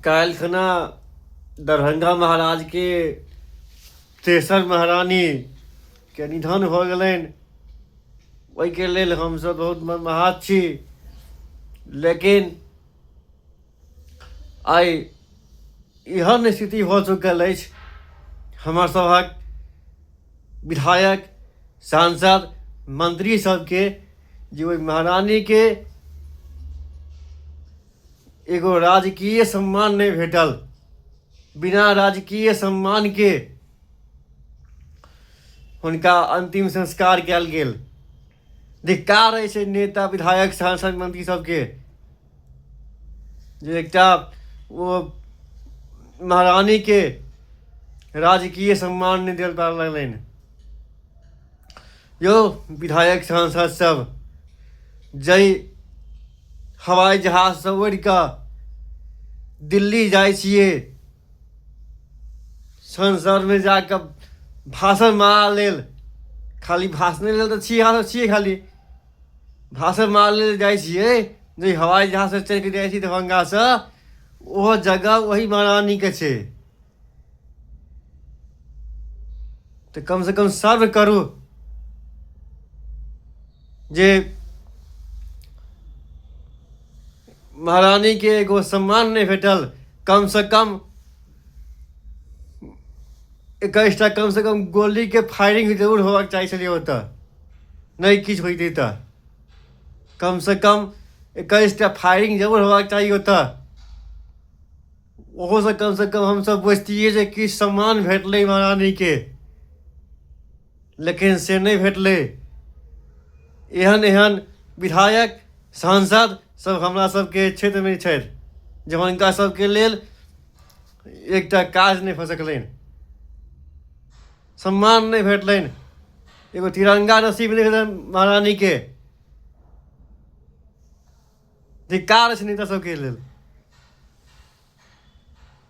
काल्हि खना दरभंगा महाराजके तेसर महारानीके निधन भऽ गेलनि ओहिके लेल हमसभ बहुत मर्माहत छी लेकिन आइ एहन स्थिति भऽ चुकल अछि हमर सभक विधायक सांसद मंत्री सबके जे ओहि महारानीके एगो राजकीय सम्मान नहि भेटल बिना राजकीय सम्मानके हुनका अन्तिम संस्कार कयल गेल धिक्कार अछि छै नेता विधायक सांसद मंत्री सबके जे एकटा ओ महारानीके राजकीय सम्मान नहि देल पार लगलनि यो विधायक सांसद सब जय हवाई जहाज से उड़ के दिल्ली जाए छे संसद में जाकर भाषण मारा लेल खाली भाषण लेल तो छी यहाँ छी खाली भाषण मारा लेल जाए छे जय हवाई जहाज से चढ़ के जाए छी दरभंगा से वह जगह वही महारानी के छे तऽ कम से कम सर्व करू जे महारानी के एगो सम्मान नहीं भेटल कम से कम इक्कीसटा कम से कम गोली के फायरिंग जरूर होबाक चाहै छलियै ओतऽ नहि किछु होइतै तऽ कम से कम इक्कीसटा फायरिंग जरूर होबाक चाही ओतऽ ओहोसँ कमसँ कम हमसभ बुझतियै जे किछु सम्मान भेटलै महारानीके लेकिन से नहि भेटलै एहन एहन विधायक सांसद सब हमरा सबके क्षेत्रमे छथि जे हुनका सबके लेल एकटा काज नहि भऽ सकलनि सम्मान नहि भेटलनि एगो तिरंगा नसीब नहि भेलनि महारानीके धिक्कार अछि नीता सबके लेल